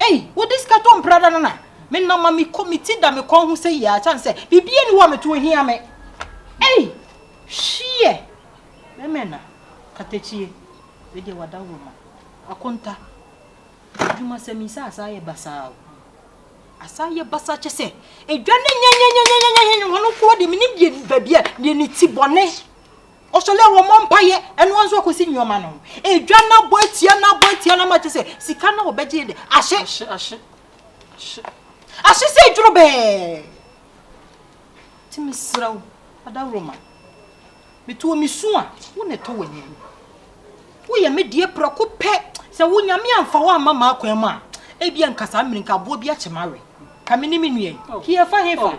Ei, wode sika tɔ mprada no na menam ma mekɔ me ti da me kɔn ho sɛyi ara ɛsiane sɛ biribiara nni hɔ a meto hia me. Ei, hwiɛ! Bɛmɛ na katakyie, wei deɛ wada wɔ ma. Akonta, adwumasɛm yi sɛ asaa yɛ basaa o. Asaa yɛ basaa kyɛ sɛ edwa ne nyɛnyɛnyɛnyɛnyɛnyɛ hene hɔ no nko ara deɛ menim deɛ baabi a deɛ ne ti bɔne. Ɔsɔ dɛ wɔmmɔ mpaeɛ, ɛno ara nso akɔsi nneɛma no ho. Edwa no abɔ atia no abɔ atia no ama kyerɛ sɛ sika no a wɔbɛgye yi de, ahye. Ahye, ahye, ahye. Ahye sɛ edworobɛɛ. Nti mesrɛ wo, adaworoma, meto wo, mesu a, wo na ɛtɔ w'anim. Woyɛ me deɛ prɛko pɛ. Sɛ wo Nyame amfa wo amma m'akwan mu a, ebia nka saa mmerɛ yi nka aboɔ bi akyɛ m'awe. Ka me ne me nua yi, oh. hiɛ fa he fa. Oh.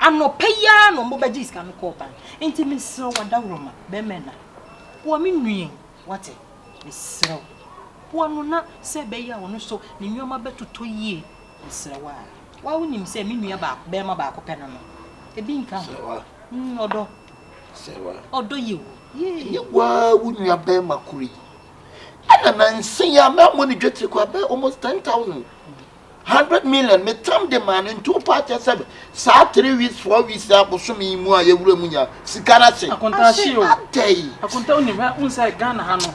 Anɔpa yi ara na wɔn bɛgye sika no kɔɔ bank. Nti mesrɛ wo adawuroma bɛrima na boa me nua yi wate mesrɛ wo boa no na sɛ ɛbɛyɛ a ɔno so ne nneɛma bɛtotɔ yie mesrɛ wo a wa wo nim sɛ me nua baako bɛrima baako pɛ no no ebi nka ho mm, ɔdɔ ɔdɔ yɛ wu yie. waa wo nua bɛrima koro yi ɛna nansa yi a mɛ amɔ ne dwetiri kɔ abɛ almost ten thousand. hundred million me tam de maa no nti wopɛ akyɛ sɛ saa three weeks four weeks a bosome yi mu a yɛwura mu nya sika no ahye akontahye o adɛn akonta wonim hɛ wohu sɛ ghana ha no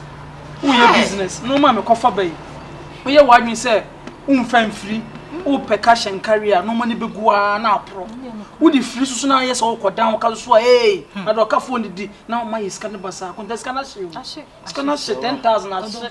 woyɛ business na ɔma mekɔfa ba yi woyɛ w'adwene sɛ womfa mfiri wopɛ ka hyɛ nkari a na ɔma no bɛgu ara na aporɔ wode firi soso na ayɛ sɛ wokɔdan wo ka soso a ee hmm. na dɛ ɔkafoɔ no di na ɔma yɛ sika no ba saa akonta sika no ahye o sika no ahye ten thousand ahye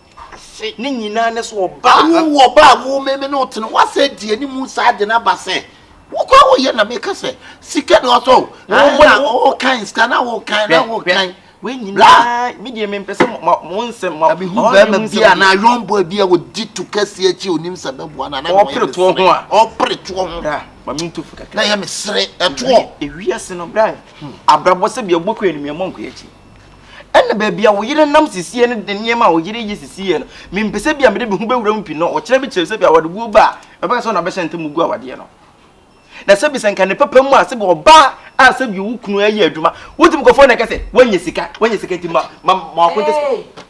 ase ne nyinaa ne sɛ ɔba a wowɔ ɔba a wo me me ne wo tene woasɛ di anim saa de no aba sɛ wokɔ a woyɛ na meka sɛ sika na ɔtɔ wokan sika na wokan na wokan medeɛ mempɛ sɛ mo nsɛm mahu bɛma bi a na ayɔnboa bi a wɔdi to kɛseɛ akyi ɔnim sɛ bɛboa no ɔpere toɔ ho a ɔpere toɔ ho na yɛ mesere ɛtoɔ ewiase no bra abrabɔ sɛ bia wobɔkɔ anumiamɔ nkɔ akyi Ɛna baabi a wo yere nam sisiɛ no de nneɛma a wo yere yɛ sisiɛ no, mempɛ sɛ bi a mede me ho bɛwura mu pi no, ɔkyena bi kyerɛ sɛ bi a awadeboɔ ba a, ɛbɛka sɛ ɔna abɛhyɛ ntam gu awadeɛ no. Na sɛbi sɛ nka ne papa mu a sɛbi ɔbaa a sɛbi wo kunu ɛyɛ adwuma, wotumi kɔfrɛ no ɛka sɛ, woanya sika, woanya sika nti ma, ma, ma wakonte sika.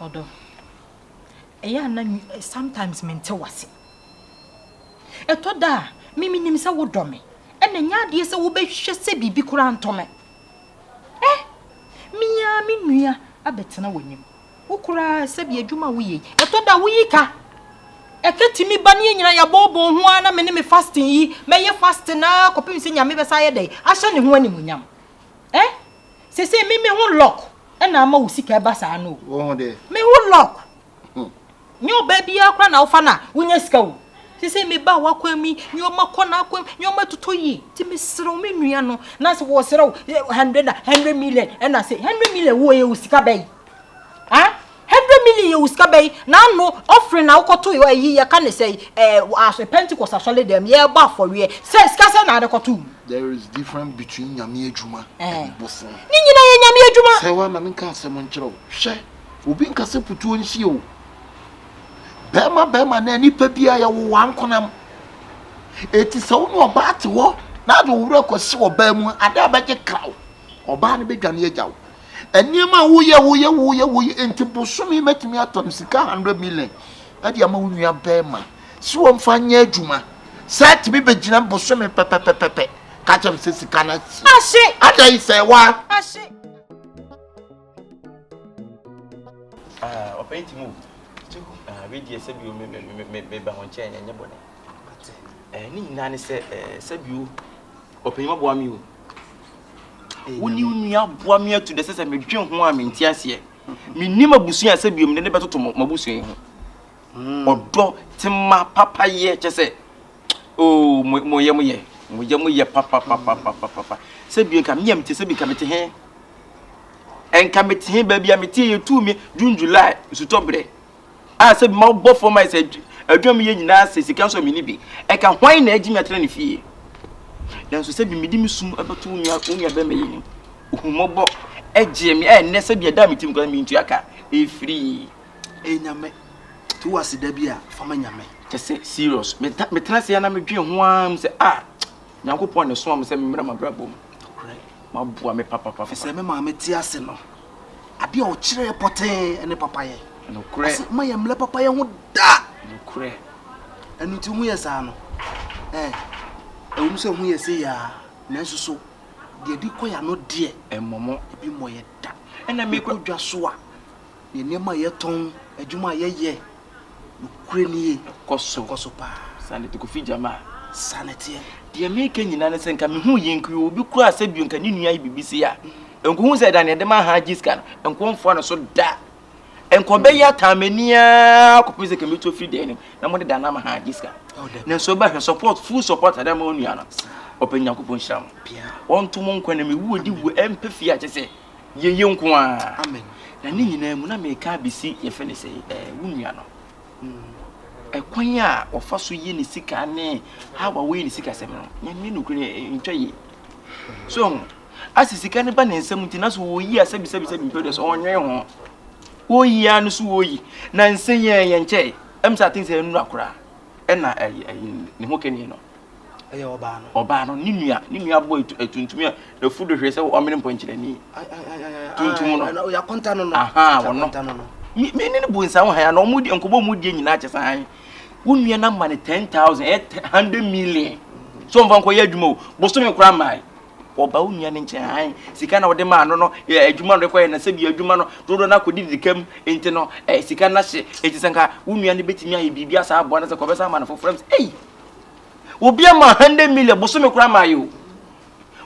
Ɔdɔ. Ɛyɛ a na sometimes mente w'ase. Ɛtɔ da a, me menim sɛ wodɔ me. Ɛna ɛnyɛ adeɛ sɛ wobɛhwehwɛ sɛ biribi koraa ntɔ me. Ɛ me ara me nua abɛtena w'anim. Wo koraa sɛbi adwuma a woyɛ yi, ɛtɔ da a woyi ka. Ɛka tumi ba ne yɛn nyinaa yɛabɔɔbɔɔ ho ara na me ne me fasting yi, mɛyɛ fasting ara kɔpem sɛ Nyame bɛsan ayɛ dɛn? Ahyɛ ne ho animuonyam. Ɛ Sesei me me ho lock na ama wo sika ɛba saa no o. Me ho lock. Nyɛ ɔbaa biara koraa na wofa no a wonya sika o. Sesei me ba w'akwan mi, nneɛma kɔ n'akwan, nneɛma totɔ yie. Nti mesrɛ wo me nua no, na sɛ wɔsrɛ wo hundred na hundred million ɛna sɛ hundred million wɔ yɛ wɔ sika bɛn? Ah? Hundred million yɛ wo sika bɛn? Na ano offering na wokɔtoe ɔ ayi yɛka ne sɛn ɛɛ wɔ as Pentecost asɔledɛm mu yɛɛbɔ afɔreɛ sɛ sika sɛn na ade kɔtoo mu? There is difference between Nyame adwuma and bosom. Ne nyinaa yɛ Nyame adwuma. Sɛ woama me nka asɛm nkyerɛ wo, hwɛ, obi nka sɛ putuo nsie o. Bɛɛma bɛɛma anaa nipa biara yɛwo wo ankonam. Eti sɛ wo ne ɔbaa te hɔ na ade wo werɛ kɔsi ɔbaa mu a, ade a bɛgye kra wo. Ɔbaa no bɛdwane agya wo. nneɛma a woyɛ woyɛ woyɛ woyɛ nti bosome mɛtumi atɔ no sika hundred million ɛde ama wo nua bɛrima si wɔn fa nyɛ adwuma sɛ ɛtumi bɛgyina bosome pɛpɛpɛpɛpɛ kakyɛ no sɛ sika no asi ada yi sɛ wa ɔpɛn ti mu wedeɛ sɛ bio meba ho nkyɛn ɛnyɛ bɔne ne nyinaa ne sɛ sɛ bio ɔpɛn maboa me o Wo ne wo nua aboa me atu dɛ sɛ medwen ho a mente aseɛ. Mennim abusua a sɛ bio mede ne bɛtoto mo m'abusua yi ho. Hmm. Ɔdɔ tema papayɛ kyɛ sɛ oh, mo mo yɛ mo yɛ mo yɛ mo yɛ papapapapapa sɛ bio nka mea mete sɛ bi nka mete he ɛnka mete he baabi a mete yɛ tu me June July nsutɔ berɛ A sɛ bi ma wo bɔ fam ayɛ sɛ adwuma meyɛ nyinaa sɛ sika nso a menni bi. Ɛka hwan na agye me atena ne fie? Nanso sɛ bi mede me sum bɛto wo nua wo nuabarima yi anim. Ohummɔbɔ gyee me a ɛnnɛ sɛ bi ɛda a metim koraa mentua ka. Ɛfiri. Ɛyɛ Nyame. To wo ase da bi a fa ma Nyame. Kyɛ sɛ serious. Metena ase ara na medwen ho ara mu sɛ ah! Nyankopɔn na ɛsomaa me sɛ memmra m'abrabɔ mu nokorɛ ma aboa me papapapa. Ɛfiri sɛ me maame te ase no, adeɛ a ɔkyerɛɛ pɔtee ne papayɛ. Nokorɛ. Ase ma yɛ mmlɛ papayɛ ho da. Nokorɛ. Ɛno nti ho yɛ saa no, eh, ɛwom sɛ ho yɛ se yaa, nanso so deɛ ɛde kɔ yɛ ano deɛ. Ɛmmɔ mo. Ebi mmɔ yɛ da. Ɛna mekɔ dwa so a. Yɛ nneɛma a yɛtɔn, adwuma a yɛyɛ, nokorɛ nie. Kɔ so. Kɔ so paa. Sane te Kofi Jamaa. Sane teɛ. Deɛ meka nyinaa ne sɛ nka mehu yɛ nka yɛwɔ obi koraa sɛ bio nka ne nua ayɛ biribi sei a nka ɔhu sɛ ɛda neɛ de ma ahaa gye sika no nka ɔmfoa no so da nka ɔbɛyɛ ataa m'ani ara kɔpem sɛ ka mɛtu afiri dan no mu na mode da no ama haa gye sika no nanso ɛbɛhwɛ support full support ade ama ɔnua no ɔpɛ Nyankopɔn hyira mo wɔnto mo nkwa na mewu ɔdi wu ɛmpɛ fie a kyɛ sɛ Yɛyɛ nko ara. Amen. Na ne nyinaa mu na meka abɛsi yɛfɛ ne sɛ ɛɛ wo nua no. Ɛkwan a ɔfa so yɛ ne sika ne how a wɔyɛ ne sika sɛm no, nyame nokorɛ ntwa yie. So ho, asɛ sika no ba ne nsam nti na so wɔyi a sɛbisɛbisɛbi mpɛ deɛ so ɔnwene ho. Wɔyi a no so wɔyi. Na nsɛ yɛn yɛn kyɛ. Ɛm sɛ aten sɛ ɛnura koraa. Ɛna ɛyi ne ho kɛni no. Ɛyɛ ɔbaa no. Ɔbaa no, ne nua, ne nua bɔ atuntum a ɛfu do hwɛ sɛ ɔmene mpɔnkyerɛni. Tuntum no. Ɔyɛ akɔnta no no. Aha, ɔno. Me ne no bu nsa wo han, na ɔmo di nkɔbɔ ɔmo die nyinaa kyɛ sɛ han. Wo nua no ama no ten thousand, ɛyɛ hundred million. So ɔmfa nkɔyɛ adwuma o, bosome koraa mmaa ɔba wo nua no nkyɛn han sika na wɔde maa no no adwuma no kɔyɛ na sɛ bi adwuma no dodo na kɔdi didi kam nti no sika na hye eti sɛ nka wo nua no betumi ayɛ biribi asa aboa no sɛ kɔbɛsa ama no foforɔ sɛ ei Obi ama hundred million bosome koraa ma ayɛ o.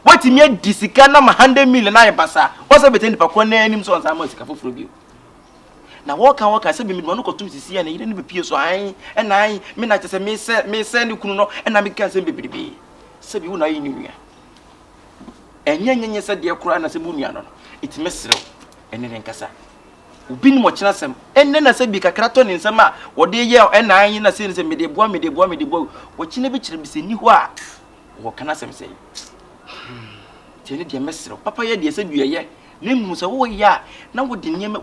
Watumi adi sika na ma hundred million ayɛ basaa. Wɔsɛ bɛtɛ nipa korɔ naa anim sɛ ɔnsan ma sika foforɔ bio. Na wɔka wɔka sɛ bɛmɛduma no kɔtom sisi a ne yere no bɛpie so ae ɛna ae me na kyɛ sɛ mesɛ mesɛ ne kunu no ɛna mekeka nsɛm bebrebee sɛ bi wo na ayɛ ne nua. Ɛnyɛ nyɛnyɛ sɛ deɛ koraa na sɛ mo nua no no ɛtumi serew ɛne ne nkasa. Obi nim ɔkyena sɛm. Ɛnnɛ na sɛ bi kakra tɔ ne nsam a ɔde yɛ ɛna ayi na sei ne sɛ mede boa mede boa mede boa ɔkyena bi kyerɛ bi sɛ nni hɔ a ɔwɔ ka n'asɛm sɛ nti ɛne deɛ mɛserɛ papa yɛ deɛ sɛ bi ɛyɛ na mmom sɛ woyɛ a na wode nneɛma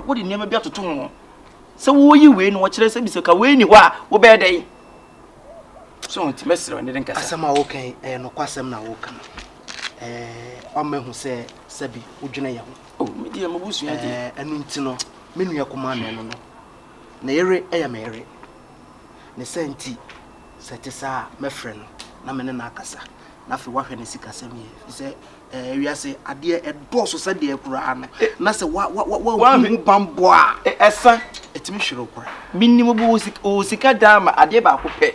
wode nneɛma bi atoto ho sɛ woyi wei no ɔkyerɛ sɛ bi sɛ ka wei ni hɔ a wobɛyɛ dɛn so nti mɛserɛ ne de nkasa asɛm a woka ɛyɛ nokwasɛm na woka no ɛɛ ɔmɛhu sɛ sɛbi wodwene yɛ ho O, me deɛ m'abusua deɛ. Ɛɛ, ɛno nti no, me nua kumaa no. Hwɛ no no. Ne yere yɛ me yere. Ne saa nti, sɛ ɛte saa a, mɛfrɛ no na me ne no akasa, na afei woahwɛ ne sikasɛm yie. Ɛfiri sɛ, ɛɛ, wiase adeɛ ɛdɔɔso sɛdeɛ koraa no, na sɛ wa, wa, wa, wa, wanhu ho bammɔ a. Ɛsa. Ɛtumi hwere wo koraa. Menim wo wɔ sika, wɔ sika daa ma adeɛ baako pɛ.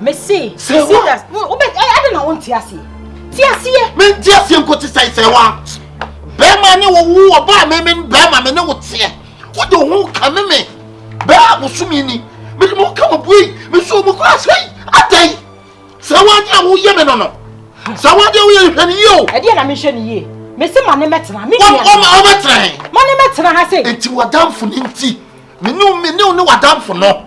mese mese das wobɛ ade na wonte aseɛ te aseɛ mente aseɛ nko te sɛe sɛ wa bɛrima ne wo wo ɔba a meme bɛrima me ne wo teɛ wode wo ho ka me me bɛrɛ a wosome ni mede me ho ka mo bue me so mu kora sɛi adɛn sɛ woade a woyɛ me no no sɛ woade woyɛ hwɛ ne yie o ɛdeɛ na menhwɛ ne yie mese ma ne mɛtena me nua ma ne mɛtena ha sɛ nti wadamfo ne nti mene mene ne wadamfo no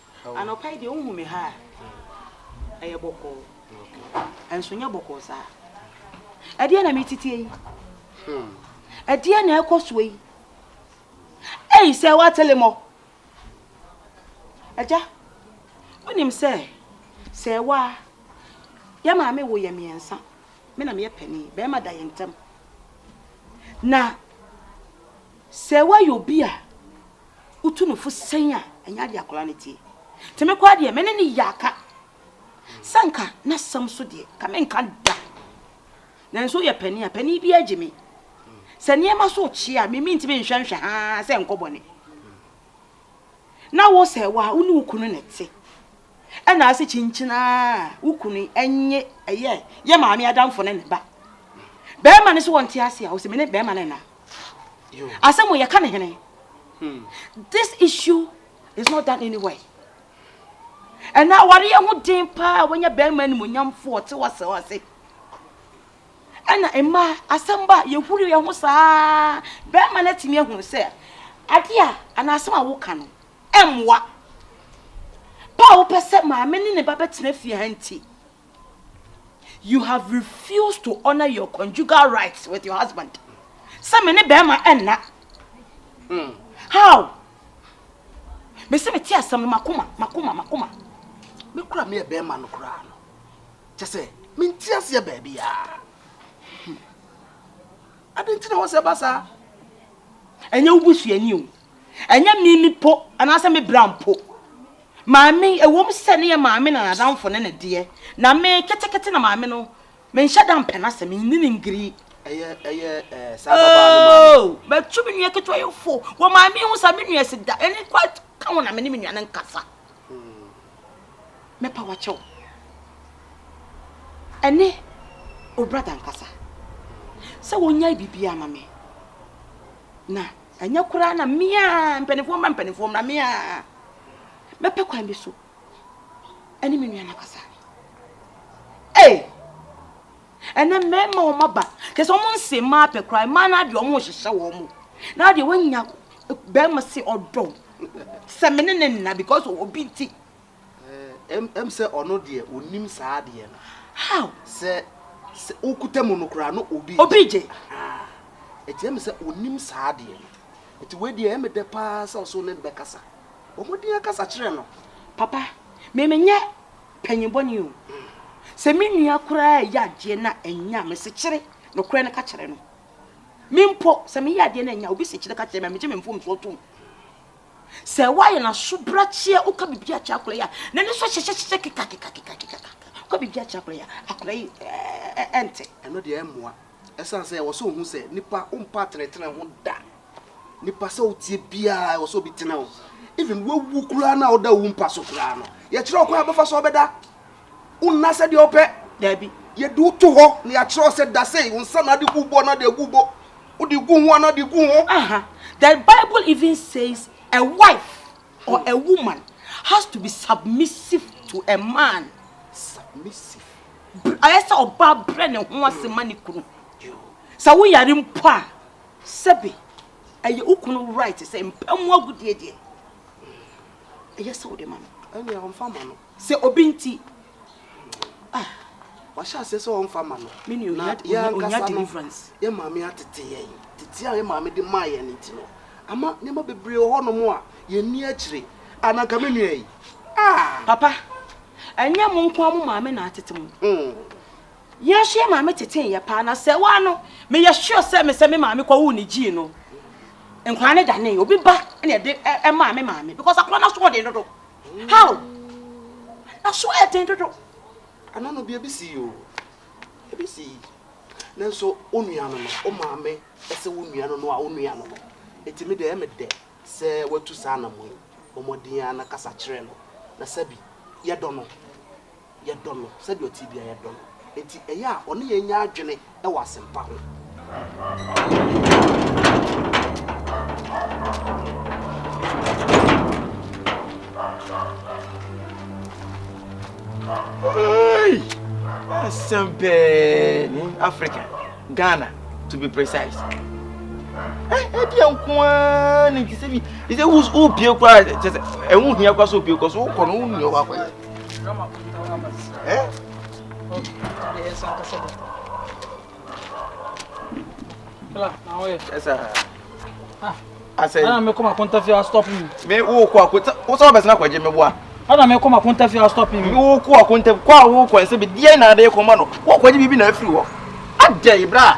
Anɔpa yi deɛ wohu me ha a, ɛyɛ bɔkɔɔ. Ɛnso nyɛ bɔkɔɔ saa. Ɛdeɛ na meteteɛ yi. Hmm. Ɛdeɛ na ɛkɔ soɔ yi. Ei sɛ woatele mɔ. Agya, wonim sɛ sɛ ɛwɔ a yɛ maame wo yɛ mmiɛnsa. Me na meyɛ panin. Bɛrima da yɛ ntam. Na sɛ woayɛ obi a wotu no fo sɛn a, ɛnyɛ adeɛ akwadaa no tie. Nti me koraa deɛ, me ne ne yɛ aka. Sɛ nka n'asɛm so deɛ, nka menka da. Nanso yɛ panin a, panin bi agye me. Sɛ nneɛma so kye a, me mentumi nhwɛ nhwɛ haa sɛ nkɔ bɔne. Na wo sɛ, wo a wo ne wo kunu na ɛte. na ase kyinkyin aa wo kunu nye ɛyɛ yɛ maame adamfo ne ne ba bɛrima no so wɔn te ase a ɔsɛ mene bɛrima no na asɛm yɛ ka ne hene hmm. this issue is not done anywhere ɛna awareɛ ho den paa wɔnyɛ bɛrima animonyamfoɔ ɔte wasɛ ɔse ɛna mma asɛm ba yɛhuri yɛ ho saa bɛrima no atumi ahunu sɛ adeɛ a anaa asɛm a woka no mmoa pa a wopɛ sɛ maame ne ne ba bɛtena fie ha nti, you have refused to honor your conjugal rights with your husband. Sɛ me ne bɛrima ɛnna. Hmm. How? Mese me te asɛm no makoma, makoma, makoma. Me kura me yɛ bɛrima no koraa no. Kyɛ sɛ, me nti aseɛ baabi a. Hmm. Ade nti na wɔ sɛ ba saa. Ɛnyɛ wo busuani o. Ɛnyɛ me me po anaasɛ me bra mpo. Maame, ɛwom sɛ ne yɛ maame na n'adamfo ne ne deɛ, na me ketekete na maame no, menhyɛ da mpɛ n'asɛm, menni ne ngiri. Ɛyɛ, ɛyɛ, ɛɛ, saa babaa no maame. Oo, matu me nua ketewa yi fo wɔ maame ho saa, me nua si da, ɛne kwa ka ho na me ne me nua no nkasa. Mɛpa wakyɛ wo. Ɛne o brada nkasa sɛ wɔnyae biribiara ma me na. Anyɛ koraa na me a, mpanimfoɔ mmra mpanimfoɔ mmra me a mɛpɛ kwan bi so ɛne me nua no akasa. Ee! Ɛnɛ mmarima wɔn aba kyɛ sɛ wɔn nse mmaa pɛ koraa mmaa no adeɛ wɔn rehyehyɛ wɔn mo na adeɛ wɔanya barima se ɔdɔ sɛ me ne ne nna because obi nti Eeh em sɛ ɔno deɛ onim saa adeɛ no. How? Sɛ sɛ wokuta mu no koraa no obi gye. Obi gye. Ahaa. Eti ɛyɛ me sɛ onim saa adeɛ no. Eti wei deɛ ɛyɛ me dɛ paa sɛ ɔso ne no bɛkasa. Bɔ mmɔden ara kasa kyerɛ no. Papa, me menyɛ panyin bɔne o. Sɛ me nua koraa reyɛ adeɛ na anya a, mesekyere nokorɛ no ka kyerɛ no. Me mpo, sɛ meyɛ adeɛ na anya a, obi sekyere ka kyerɛ me a, megye me mfomsoɔ tom. Sɛ woayɛ no asobrakyeɛ, woka biribi akyerɛ akwadaa yi a, n'ani so hyehyɛhyehyɛ kekakekakekaka. Woka biribi akyerɛ akwadaa yi a, akwadaa yi ɛnte. Ɛno deɛ ɛmmoa. Ɛsiane sɛ ɛwɔ sɛ ohu sɛ nipa wompa atenetene ho da. Nipa sɛ wotie biara ɛwɔ sɛ obi tene wo. Even wawu koraa no a woda wo mpa so koraa no, yɛkyerɛ wo kwan a wobɛfa so abɛda. Wo nna sɛdeɛ wo pɛ, daabi. Yɛde wo to hɔ na yɛakyerɛ wo sɛ da sei, wo nsa na ade gu wo bo anaa de agu wo bo, wode gu ho anaa de gu ho. Aha, the bible even says a wife or a woman has to be submissive to a man. Submissive. Ayɛ sɛ ɔbaa brɛ ne ho ase ma ne kunu. Sɛ wo yare mpo a, sɛbe ɛyɛ wo kunu right sɛ mpa mu agudeɛ deɛ, ɛyɛ sɛ wode ma no. Ɛnea ɔmfa ma no. Sɛ obi nti a wahyɛ aseɛ sɛ ɔmfa mma no, na yɛn ankasa no, yɛn maame atete yɛn. Tete a yɛn maame de maa yɛn nti no, ama nneɛma bebree wɔ hɔnom a yɛnni akyire. A na nka me nua yi. Papa, ɛnyɛ mo nko a mo maame na atete mo. Hmm. Yɛn nso yɛn maame tetee yɛ paa, na sɛ waa no, meyɛ sure sɛ me sɛ me maame kɔwoo ne gyii no. Nkwadaa no danee obi ba na ɛde ɛmaa me maame because akwadaa no aso ɔden dodo. How? Na so ayɛ den dodo. Ɛno no bi ebi sii o. Ebi sii. Nanso wo nua no no, wo maame ɛsɛ wo nua no no a wo nua no no. Eti me deɛ ɛyɛ me dɛ sɛ watu saa anamɔ yi. Bɔ mmɔden ara na kasa kyerɛ no. Na sɛbi, yɛdɔ no. Yɛdɔ no sɛdeɛ ɔte biara, yɛdɔ no. Enti ɛyɛ a ɔne yɛn nya adwene wɔ asɛmpa ho. Hey! Asɛm pɛɛ ne Africa, Ghana to be precise. ɛdeɛ eh, nko ara ne nti sɛ bi sɛ wobie koraa kyɛ sɛ ɛho hia koraa sɛ obie kɔ so wokɔ no wonni ɔwɔ akɔyɛ asɛn. ɛna mekɔ ma kɔnta fie astɔp mi. mi wo kɔ akɔnta wosɛ ɔbɛsɛ na kɔgye mi boa. ɛna mekɔ ma kɔnta fie astɔp mi. mi wo kɔ akɔnta kɔ a wo kɔ ɛsɛ bi deɛ na ade kɔ ma no wɔ kɔgye bibi na afiri hɔ adɛ ibra.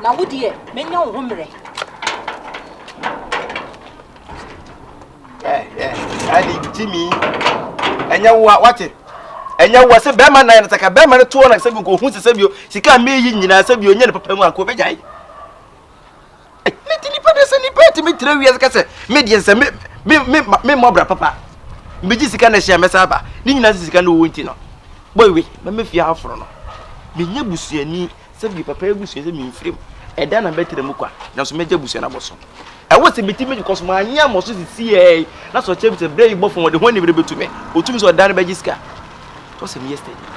Na wo deɛ, mɛnya wo ho mmerɛ. Ɛne gyimi ɛnyɛ wo a wate ɛnyɛ wo a sɛ bɛrima nan no sɛ ka bɛrima no toɔ na sɛ bi nkohu sɛ sɛ bi sika a meyi nyinaa sɛ bi ɔnyɛ ne papa mu anko bɛgyae ne ti nipa de sɛ nipa etimi tira wiase ka sɛ me deɛ sɛ me me me me mmɔ bra papa mbegye sika na ɛhyɛ mɛsa aba ne nyinaa sɛ sika na ɔwɔ nti no boy we mɛmɛ fie aforo no menyɛ busuani sɛ bi papa abusua sɛ memfiri mu ɛda na mɛtena mu kwa nanso mɛgya busua no abɔ so ɛwɔ sɛ meti mɛgye kɔso maanyɛ amɔ so sisi ɛɛ na sɛ ɔkyerɛ bi sɛ berɛ yi bɔfo wɔde ho anibere bɛtu me ɔtumi sɛ ɔda no bɛgye sika tɔ sɛ meyɛ steady